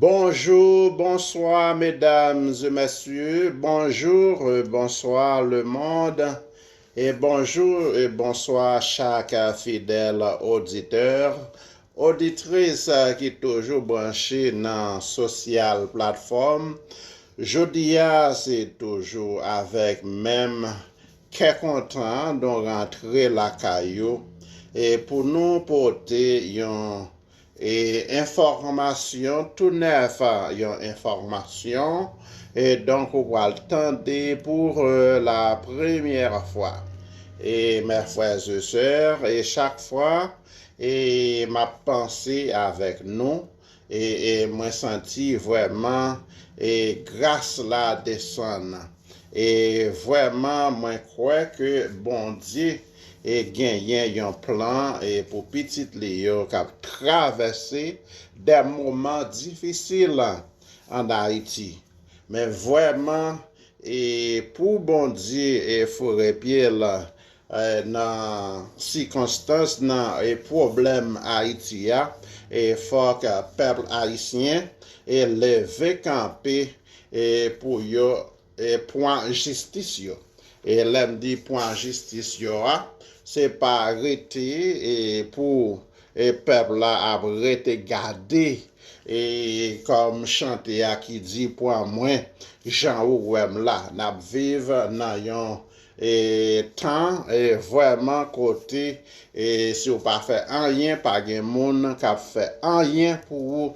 Bonjour bonsoir mesdames et messieurs bonjour et bonsoir le monde et bonjour et bonsoir chak fidèl auditeur auditrice ki toujou branche nan social platform jodi a se toujou avèk menm kè kontan nou rantre lakay ou e pou nou pote yon E enfòmasyon tou nèf yon enfòmasyon e donk ou pral tande pou la premyè fwa e mè frè e sè e chak fwa e map panse avèk nou e e mwen santi vrèman e gras la desann e vrèman mwen kwè ke Bondye e genyen yon plan e pou pitit li yo k ap travèse dè moman difisil an Ayiti. Men vrèman e pou Bondye e foure pye l nan sikonstans nan e pwoblèm Ayiti a e fòk pèp ayisyen e leve kanpe e pou yo Pwan jistis yo. E lè m di pwan jistis yo a, se pa rete pou pèp la ap rete gade kòm chante a ki di pwan mwen jan ou wè m la. N ap viv nan yon tan vrèman kote si w pa fè anyen, pa gen moun k ap fè anyen pou ou.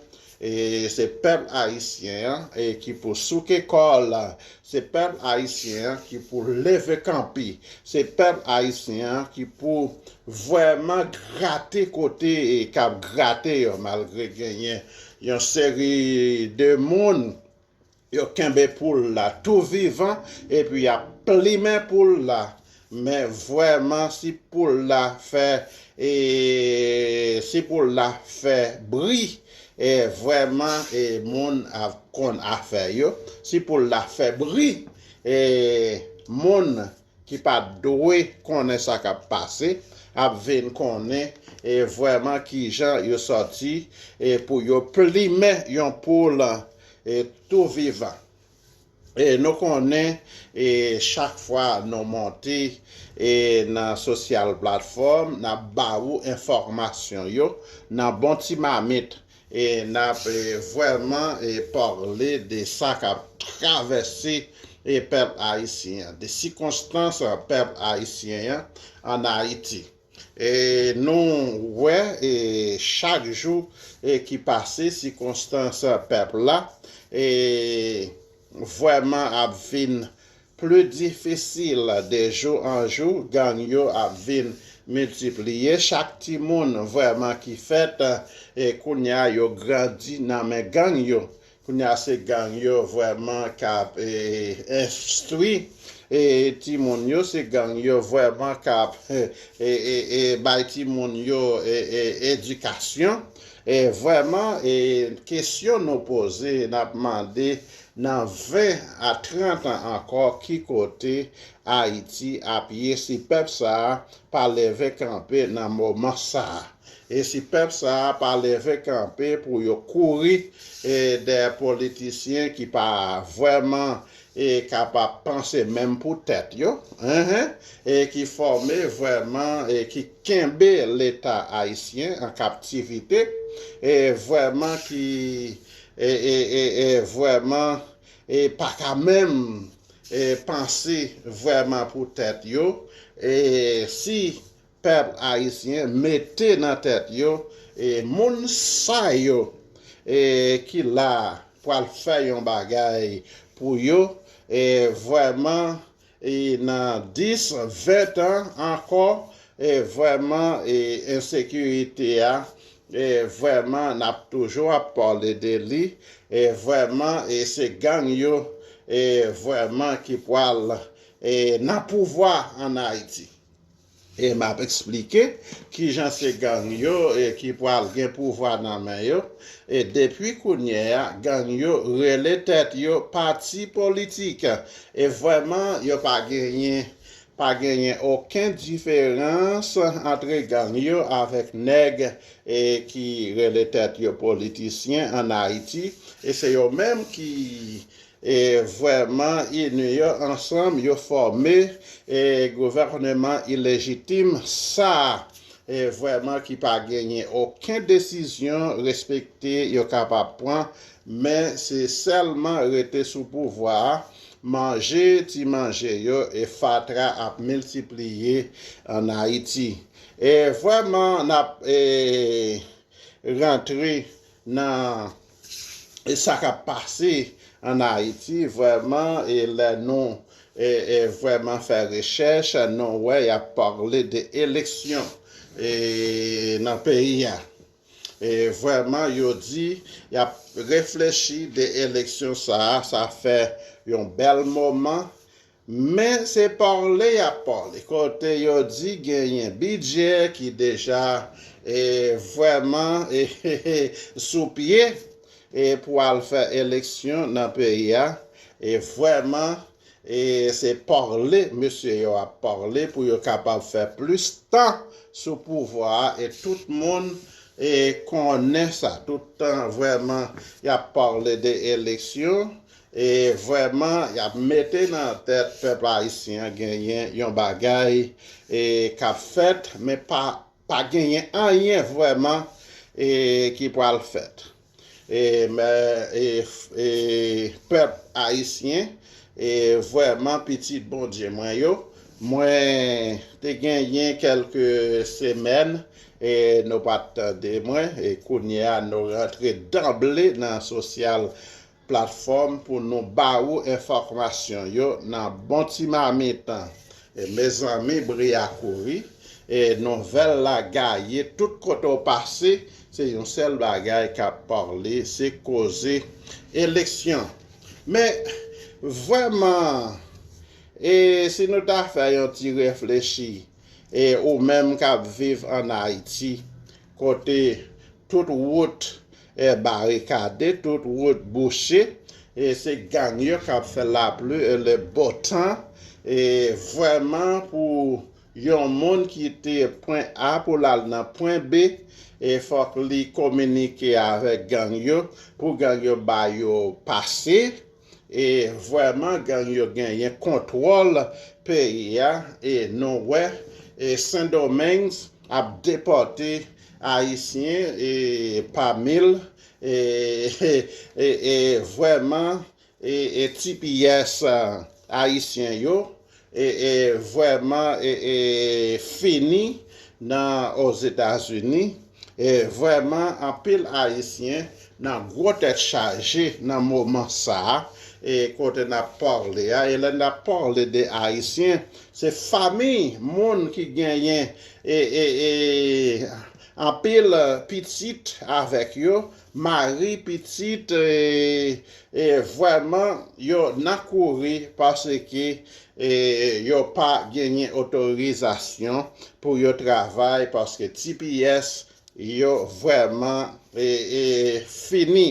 E se pèp ayisyen an ki pou souke kòl, se pèp ayisyen an ki pou leve kanpe, se pèp ayisyen an ki pou vrèman grate kote kap grate yo malgre genyen yon seri de moun Yo kenbe poul la tou vivan epi yap plimen poul la men vweman si poul la fè e si poul la fè bri e vweman e moun ap konn afè yo si poul la fè bri e moun ki pa dwe konnen sa k ap pase ap vin konnen vrèman kijan yo sòti pou yo plimen yon poul tou vivan. Nou konnen chak fwa nou monte nan sosyal platfòm n ap ba ou enfòmasyon yo nan bon ti mamit E nap vrèman parle de sa kap travèse pèp ayisyen an, de sikonstans pèp ayisyen an an Ayiti. E nou wè chak jou ki pase sikonstans pèp la vrèman ap vin Pli difisil de jou an jou gang yo ap vin miltipliye chak timoun vrèman ki fèt kounya yo grandi nan men gang yo kounya se gang yo vrèman kap enstwi timoun yo se gang yo vrèman kap bay timoun yo edikasyon vrèman kesyon nou poze nap mande Nan 20 a 30 an ankò ki kote Ayiti ap ye si pèp sa a pa leve kanpe nan moman sa a? E si pèp sa a pa leve kanpe pou yo kouri dèyè politisyen ki pa vrèman kapab panse menm pou tèt yo, ki fòme vrèman, ki kenbe leta ayisyen an kaptivite, vrèman ki E e e e vrèman e paka menm e panse vrèman pou tèt yo e si pèp ayisyen mete nan tèt yo e moun sa yo e ki la pwal fè yon bagay pou yo e vrèman E nan 10, 20 tan ankò e vrèman e ensekirite a e vrèman n ap toujou ap pale de li e vrèman e se gang yo e vrèman ki pwal e nan pouvwa an Ayiti. E m ap esplike ki jan se gang yo ki pral gen pouvwa nan men yo. E depi kounye a, gang yo rele tèt yo pati politik. E vrèman, yo pa genyen pa genyen oken diferans antre gang yo avèk nèg ki rele tèt yo politisyen ann Ayiti. E se yo menm ki E vrèman inyon ansanm yo fòme e gouvèneman ilejitim sa e vrèman ki pa genyen oken desizyon respekte yo kapab pran men se sèlman rete sou pouvwa a manje ti manje yo e fatra ap miltipliye an ayiti e vrèman nap e rantre nan e sa kap pase an Haiti vrèman e lè nou e vrèman fè rechèch nou wè yap parle de eleksyon e nan peyi a e vrèman yo di yap reflechi de eleksyon sa a sa fè yon bèl moman Men se parle yap parle kote yo di genyen bidjè ki deja e vreman e sou pye e pou al fè eleksyon nan peyi a e vreman e se parle mesye yo ap parle pou yo kapab fè plis tan sou pouvwa a e tout moun e konnen sa tout tan vreman yap parle de eleksyon E vrèman yap mete nan tèt pèp ayisyen an genyen yon bagay e kap fèt men pa pa genyen anyen vrèman e ki pral fèt e mè e e pèp ayisyen e vrèman pitit Bondye mwen yo mwen te genyen kèlke semèn e nou pat tande mwen e kounyea nou rantre danble nan sosyal platfòm pou nou ba ou enfòkmasyon yo nan bon ti mamit e mezanmi bri a kouri e nouvèl la gaye tout kote w pase se yon sèl bagay kap parle se koze eleksyon men vrèman e si nou ta fè yon ti reflechi e ou menm kap viv an Ayiti kote tout wout E barikade tout wout bouche e se gang yo kap fè laplu e le bo tan e vrèman pou yon moun ki te pwen A pou lal nan pwen B e fòk li kominike avèk gang yo pou gang yo ba yo pase. E vweman gang yo genyen kontwòl peyi a e nou wè e sendomeng ap depòte ayisyen e pa mil e vweman e tipiyès ayisyen yo e vrèman e fini nan ozetazini e vrèman anpil ayisyen nan gwo tèt chaje nan moman sa e kote nap parle a e lè nap parle de ayisyen se famiy moun ki genyen e e anpil pitit avèk yo Marie pitit eeh vrèman yo nan kouri paske yo pa genyen otorizasyon pou yo travay paske tps yo vrèman eeh fini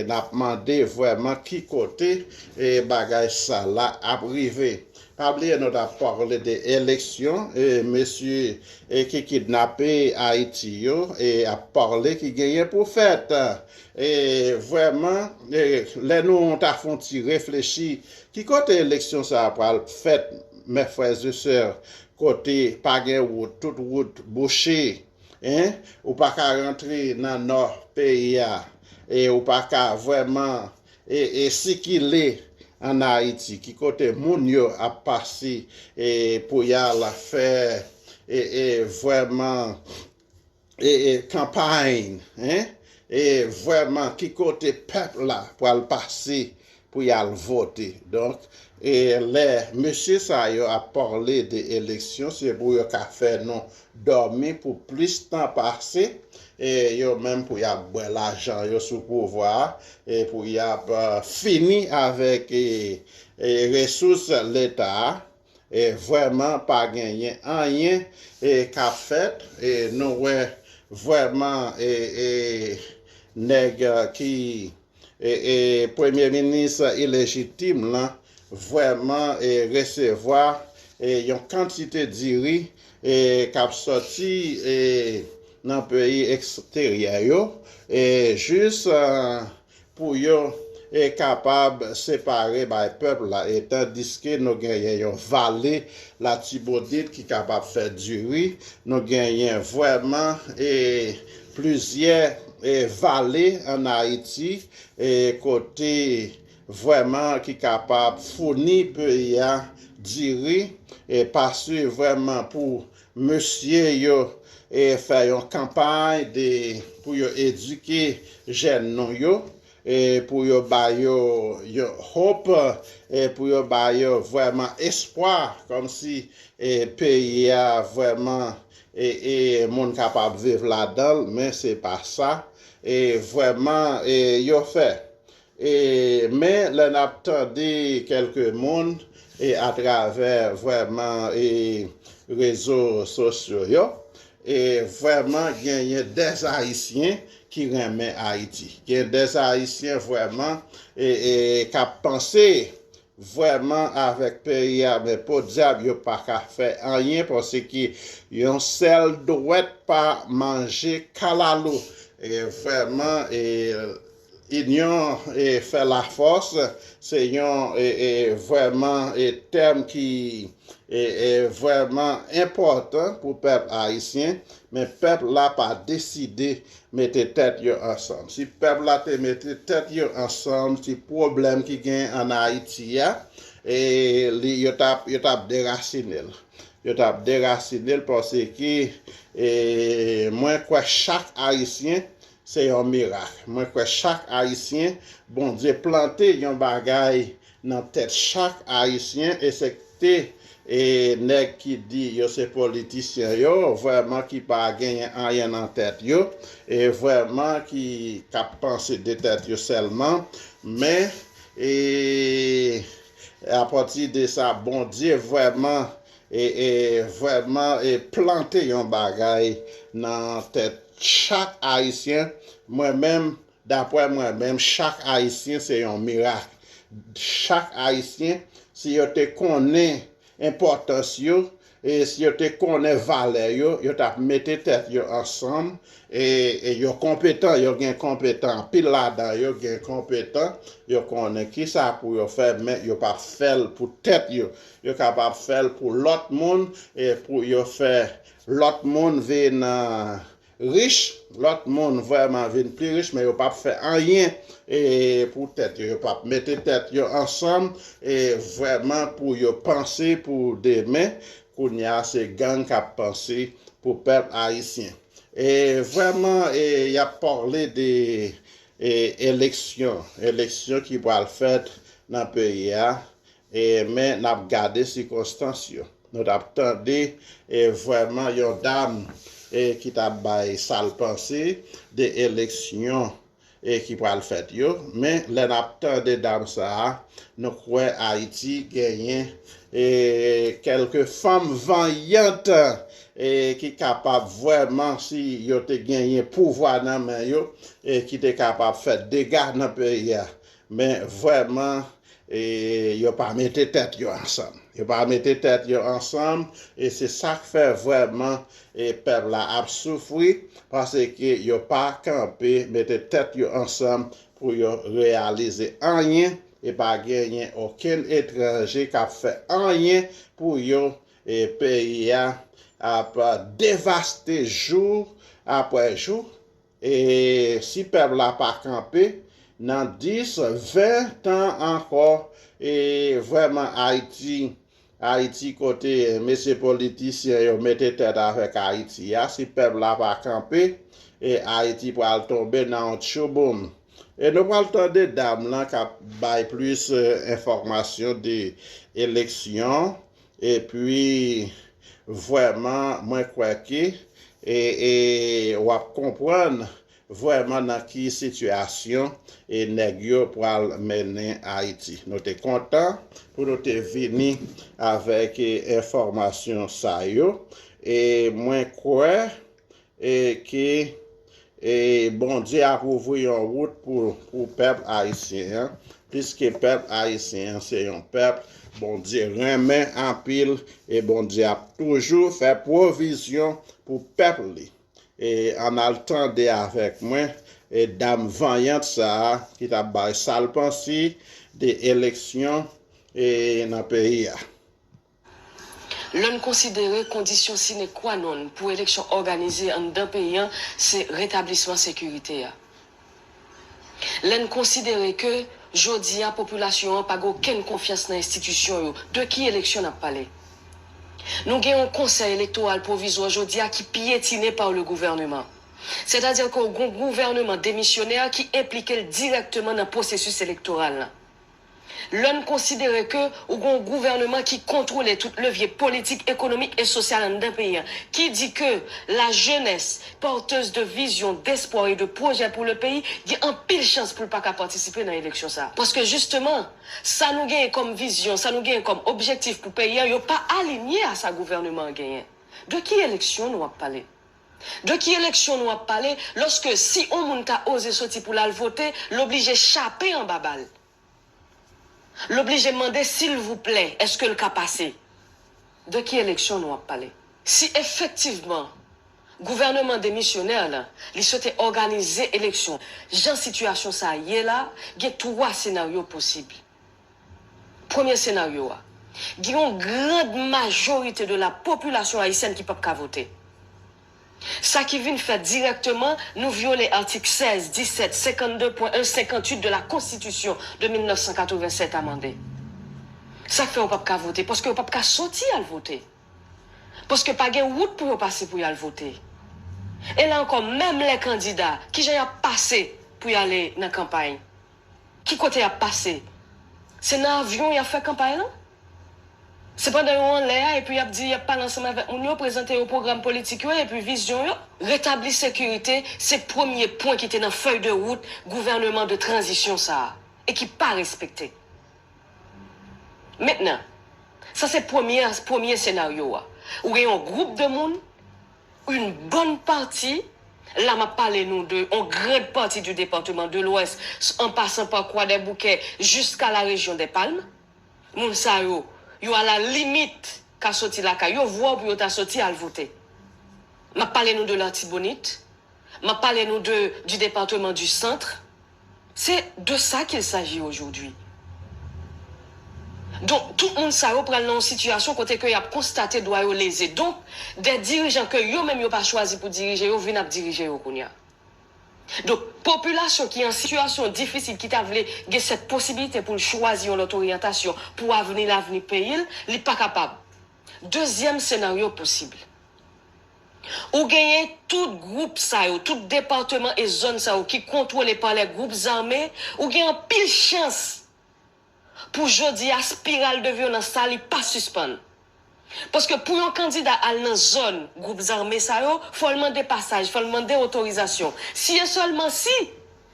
nap mande vrèman ki kote bagay sa la ap rive Pa bliye nou tap parle de eleksyon e mesye ki kidnape ayiti yo ap parle ki genyen pou fèt e vrèman lè nou ta fon ti reflechi ki kote eleksyon sa pral fèt mè frères et sœurs kote pa gen wout tout wout bouche hein ou paka rantre nan nò peyi a e ou paka vrèman E sikile an Ayiti, ki kote moun yo ap pase pou y al fè vrèman kanpay, e vrèman ki kote pèp la pral pase pou y al vote. Donk, lè mesye sa yo ap pale de eleksyon, se pou yo ka fè nou dòmi pou plis tan pase yo menm pou y ap bwè lajan yo sou pouvwa a e pou y ap fini avèk resous leta a vrèman pa genyen anyen k ap fèt nou wè vrèman nèg ki e e premye minis ilejitim lan vrèman e resevwa e yon kantite diri e kap sòti e nan peyi eksteryè yo e jis pou yo e kapab separe bay pèp la e tandiske nou genyen yon vale latibonit ki kapab fè diri nou genyen vrèman e Plizyè vale an Ayiti kote vrèman ki kapab founi peyi a diri pa si vrèman pou mesye yo fè yon kanpay pou yo edike jèn nou yo. pou yo ba yo yon hope, pou yo ba yo vrèman espwa kòm si peyi a vrèman moun kapab viv ladan l men se pa sa vrèman yo fè. Men lè n ap tande kèlke moun atravè vrèman rezo sosyo yo, E vrèman genyen des ayisyen ki renmen ayiti gen des ayisyen vrèman e kap panse vrèman avèk peyi a men podyab yo paka fè anyen paske yon sèl dwèt pa manje kalalou e vrèman e Inyon fè lafòs se yon vrèman tèm ki vrèman enpòtan pou pèp ayisyen, men pèp la pa deside mete tèt yo ansanm. Si pèp la te mete tèt yo ansanm ti pwoblèm ki gen an Ayiti a yo t ap derasine l. Yo t ap derasine l paske mwen kwè chak ayisyen Se yon mirak. Mwen kwè chak ayisyen Bondye plante yon bagay nan tèt chak ayisyen esepte nèg ki di yo se politisyen yo vrèman ki pa genyen anyen nan tèt yo e vrèman ki kap panse de tèt yo sèlman men e apati de sa Bondye vrèman E e vrèman e plante yon bagay nan tèt chak ayisyen mwen menm daprè mwen menm chak ayisyen se yon mirak chak ayisyen si yo te konnen enpòtans yo e si yo te konnen valè yo yo tap mete tèt yo ansanm e e yo konpetan yo gen konpetan anpil ladan yo gen konpetan yo konnen kisa pou yo fè men yo pap fèl pou tèt yo Yo kapab fè l pou lòt moun e pou yo fè lòt moun vin rich, lòt moun vrèman vin pi rich men yo pap fè anyen pou tèt yo, yo pap mete tèt yo ansanm vrèman pou yo panse pou demen, kounye a se gang kap panse pou pèp ayisyen. Vrèman yap pale de eleksyon, eleksyon ki pral fèt nan peyi a Men n ap gade sikonstans yo. Nou t ap tande vwèman yon dam ki t ap bay sa l panse de eleksyon ki pral fèt yo. Men lè n ap tande dam sa a, nou kwè Ayiti genyen kèlke fanm vanyant ki kapab vwèman, si yo te genyen pouvwa nan men yo, ki te kapab fè dega nan peyi a. Men vrèman yo pa mete tèt yo ansanm. Yo pa mete tèt yo ansanm e se sa k fè vrèman pèp la ap soufri paske yo pa kanpe mete tèt yo ansanm pou yo reyalize anyen e pa genyen okenn etranje k ap fè anyen pou yo e peyi a ap devaste jou apre jou. E si pèp la pa kanpe, nan 10, 20 tan ankò, e vrèman Ayiti, Ayiti kote mesye politisyen yo mete tèt avèk Ayiti a, si pèp la pa kanpe, e Ayiti pral tonbe nan yon tchouboum. E nou pral tande dam lan k ap bay plis enfòmasyon de eleksyon Epi vrèman mwen kwè ke w ap konprann vrèman nan ki sitiyasyon nèg yo pral mennen Ayiti. Nou te kontan pou nou te vini avèk enfòmasyon sa yo e mwen kwè E ke Bondye ap ouvri yon wout pou pèp Ayisyen an, piske pèp Ayisyen an se yon pèp Bondye renmen anpil e Bondye ap toujou fè pwovizyon pou pèp li. E ann al tande avèk mwen dam vanyant sa a ki t ap bay sa l panse de eleksyon nan peyi a. Lè n konsidere kondisyon sine kwa nonn pou eleksyon òganize anndan peyi an se retablisman sekirite a. Lè n konsidere ke jodi a popilasyon an pa gen okenn konfyans nan enstitisyon yo, de ki eleksyon n ap pale? Nou gen yon Konsèy Elektoral Pwovizwa jodi a ki pyetine par le gouvernement. Sètadi ke w gen yon gouvèneman demisyonè ki enplike l dirèkteman nan pwosesis elektoral lan. Lè n konsidere ke ou gen yon gouvèneman ki kontwole tout levye politik, ekonomik e sosyal anndan peyi a, ki di ke la jeunesse, porteuse de vision, d'espoir et de projet pour le pays, gen anpil chans pou l pa ka patisipe nan eleksyon sa a. Paske jisteman, sa nou genyen kòm vizyon, sa nou genyen kòm objektif pou peyi a, yo pa alinye a sa gouvèneman an genyen. De ki eleksyon nou ap pale? De ki eleksyon nou ap pale loske si on moun ka oze soti pou lal vote l oblije chape anba bal. L oblije mande silvouplè eske l ka pase. De ki eleksyon nou ap pale? Si efektivman gouvèneman demisyonè la li swete òganize eleksyon jan sitiyasyon sa ye la gen 3 senaryo posib. Premye senaryo a, gen yon grand majorite de la popilasyon ayisyèn ki pap ka vote. Sa ki vin fèt dirèkteman, nou vyole atik 16, 17, 52 pwen 1, 58 de la konstitisyon de 1987 amande. Sa k fè yo pap ka vote, paske yo pap ka soti al vote. Paske pa gen wout pou yo pase pou y al vote. E la ankò, menm lè kandida, kijan y ap pase pou y ale nan kanpay? Ki kote yap pase? Se nan avyon yap fè kanpay lan? Se pandan yo anlè a epi yap di yap pale ansanm avèk moun yo, prezante yo pwogram politik yo epi vizyon yo? Retabli sekirite se premye pwen ki te nan fèy de wout gouvèneman de tranzisyon sa a e ki pa respekte. Mentnan, sa se premye premye senaryo a. Ou gen yon gwoup de moun. Une bonne partie, la map pale nou de on grande partie du département de l'ouest en passant par Croix-des-Bouquets jusqu'à la région des Palmes, moun sa yo, yo a la limite ka soti lakay yo, vwa w pou yo ta soti al vote. Map pale nou de l'Artibonite, map pale nou de du département du centre, C'est de ça qu'il s'agit aujourd'hui. Donk, tout moun sa yo pral nan yon sitiyasyon kote ke y ap konstate dwa yo leze. Donk, dè dirijan ke yo menm yo pa chwazi pou dirije yo vin ap dirije yo kounye a. Donk, popilasyon ki an sitiyasyon difisil ki ta vle gen sèt posibilite pou l chwazi yon lòt oryantasyon pou avni lavni peyi l, li pa kapab. Dezyèm senaryo posib. Ou genyen tout gwoup sa yo, tout departeman e zòn sa yo ki kontwole pa lè gwoup zame, ou gen anpil chans pou jodi a spiral de vyolans sa li pa sispann. Paske pou yon kandida al nan zòn gwoup zame sa yo, fò l mande pasaj, fò l mande otorizasyon. Si e sèlman si,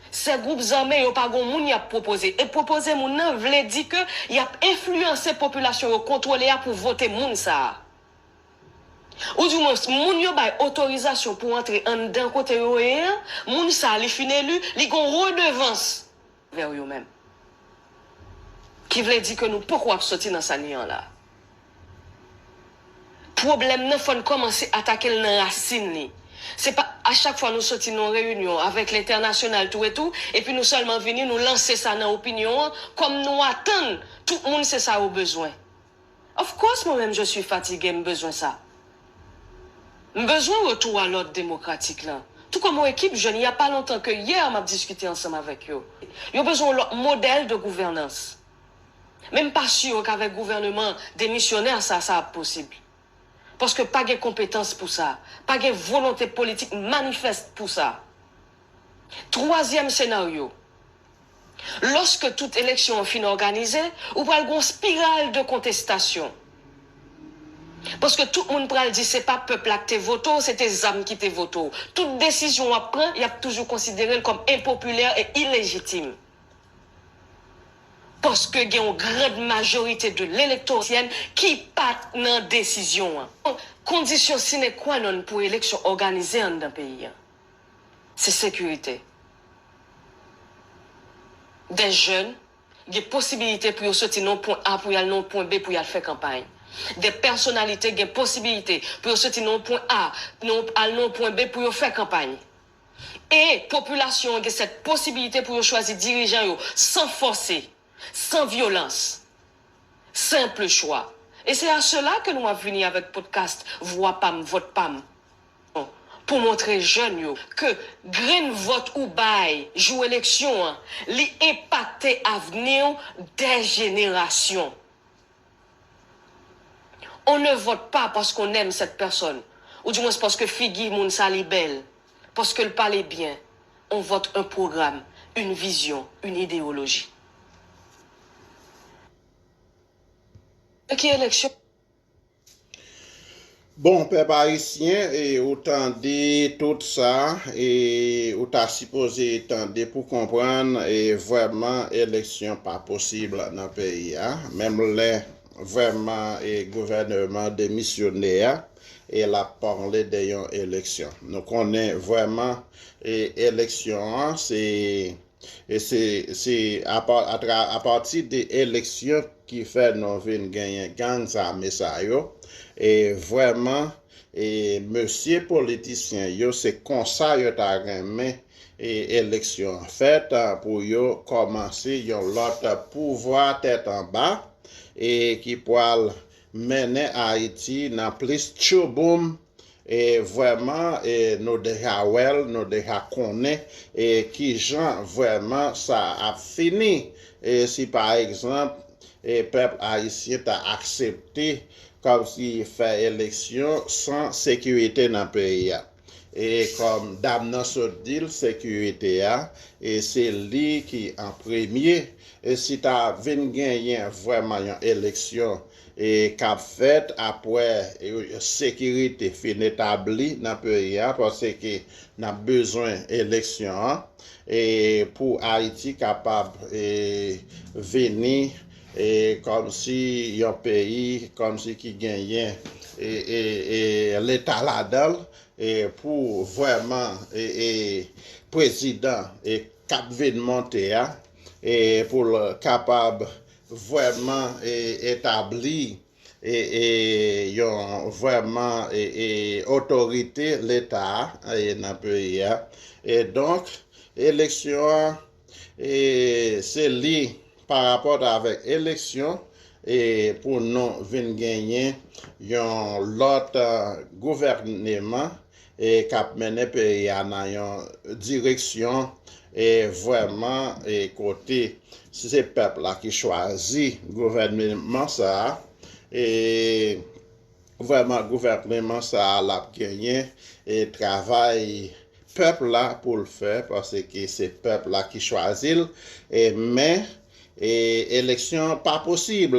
sè gwoup zame yo pa gon moun y ap pwopoze. E pwopoze moun nan vle di ke y ap enfliyanse popilasyon yo kontwole a pou vote moun sa a. Oudimwens, moun yo bay otorizasyon pou antre anndan kote yo ye an, moun sa a li fin eli, li gen yon redevans anvè yo menm. Ki vle di ke nou poko ap soti nan sa n ye an la. Pwoblèm nan fò n kòmanse atake l nan rasin li. Se pa a chak fwa nou soti nan yon reyinyon avèk lentènasyonal tou e tou, epi nou sèlman vini nou lanse sa nan opinyon an, kòm nou atann tout moun se sa yo bezwen. Of course mwen menm je suis fatigue m bezwen sa. M bezwen retou a lòd demokratik lan. Tou kòm yon ekip jèn il y a pas longtemps que hier map diskite ansanm avèk yo. Yo bezwen yon lòt modèl de gouvènans. Men m pa sur k'avèk gouvèneman demisyonè sa sa ap posib. Paske pa gen konpetans pou sa. Pa gen volonte politik manifest pou sa. Twazyèm senaryo, Lòske tout eleksyon an fin òganize, ou pral gen yon spiral de kontestasyon. Paske tout moun pral di se pa pèp la k te vote w, se te zam ki te vote w. Tout desizyon w ap pran, y ap toujou konsidere l kòm enpopilè e ilejitim. Paske gen yon grand majorite de l'electorsyen ki pa t nan desizyon an. Kondisyon sine qua non pou eleksyon òganize anndan peyi an. se sekirite. Dè jèn gen posibilite pou yo soti nan yon pwen A pou y al nan yon pwen B pou y al fè kanpay. Dè pèsonalite gen posibilite pou yo soti nan yon pwen A al nan yon pwen B pou yo fè kanpay. E popilasyon an gen sèt posibilite pou yo chwazi dirijan yo san fòse, san vyolans. Senple chwa. E se a sela ke nou ap vini avèk podcast Vwa pam, vòt pam. pou montre jèn yo ke grenn vòt ou bay jou eleksyon an, li enpakte avni w dè jenerasyon. On ne vote pas parce qu'on aime cette personne, ou di mwens paske figi moun sa li bèl, paske l pale byen, on vote un programme, une vision, une idéologie. Nan ki eleksyon? Bon pèp ayisyen e ou tande tout sa e ou ta sipoze tande pou konprann e vrèman eleksyon pa posib nan peyi a menm lè vrèman e gouvèneman demisyone a e l ap pale de yon eleksyon nou konnen vrèman e eleksyon an se E se se apati de eleksyon ki fè nou vin genyen gang zame sa yo e vrèman e mesye politisyen yo se konsa yo ta renmen e eleksyon an fèt pou yo kòmanse yon lòt pouvwa tèt anba e ki pwal mennen Ayiti nan plis tchouboum E vrèman e nou deja wè l, nou deja konnen e kijan vrèman sa ap fini e si pa egzanp e pèp ayisyen ta aksepte kòmsi fè eleksyon san sekirite nan peyi a. E kòm dam nan sot di l sekirite a e se li ki an premye e si ta vin genyen vrèman yon eleksyon k ap fèt apre sekirite fin etabli nan peyi a paske n ap bezwen eleksyon an pou Ayiti kapab vini kòmsi yon peyi kòmsi ki genyen leta ladan l pou vrèman prezidan k ap vin monte a pou l kapab vrèman etabli yon vrèman otorite leta nan peyi a e donk eleksyon an se li parapòt avèk eleksyon pou nou vin genyen yon lòt gouvèneman e kap mennen peyi a nan yon direksyon e vrèman e kote si se pèp la ki chwazi gouvèneman sa a e vrèman gouvèneman sa a lap genyen e travay pèp la pou l fè paske se pèp la ki chwazi l e men e eleksyon pa posib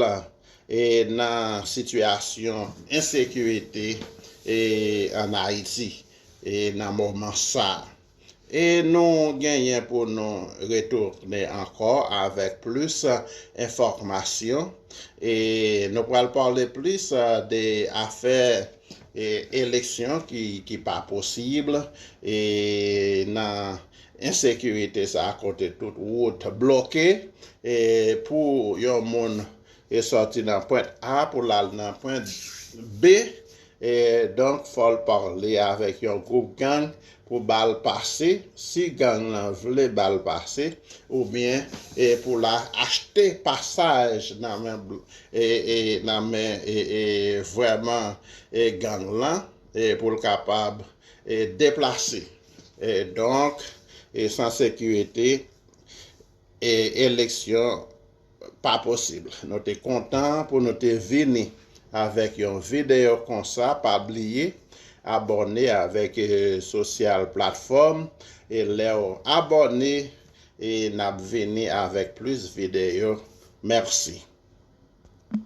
e nan sitiyasyon ensekirite e an Ayiti e nan moman sa e nou genyen pou nou retounen ankò avèk plis enfòkmasyon e nou pral pale plis de afè e eleksyon ki pa posib e nan ensekirite sa kote tout wout bloke e pou yon moun E sòti nan pwent A pou l al nan pwent B, e donk fò l pale avèk yon gwoup gang pou ba l pase, si gang lan vle ba l pase, oubyen e pou l achte pasaj nan men e e nan men e e vrèman e gang lan e pou l kapab e deplase. E donk e san sekirite e eleksyon. pa posib. Nou te kontan pou nou te vini avèk yon videyo konsa pa bliye abòne avèk sosyal platfòm e lèw abòne e nap vini avèk plis videyo mèsi.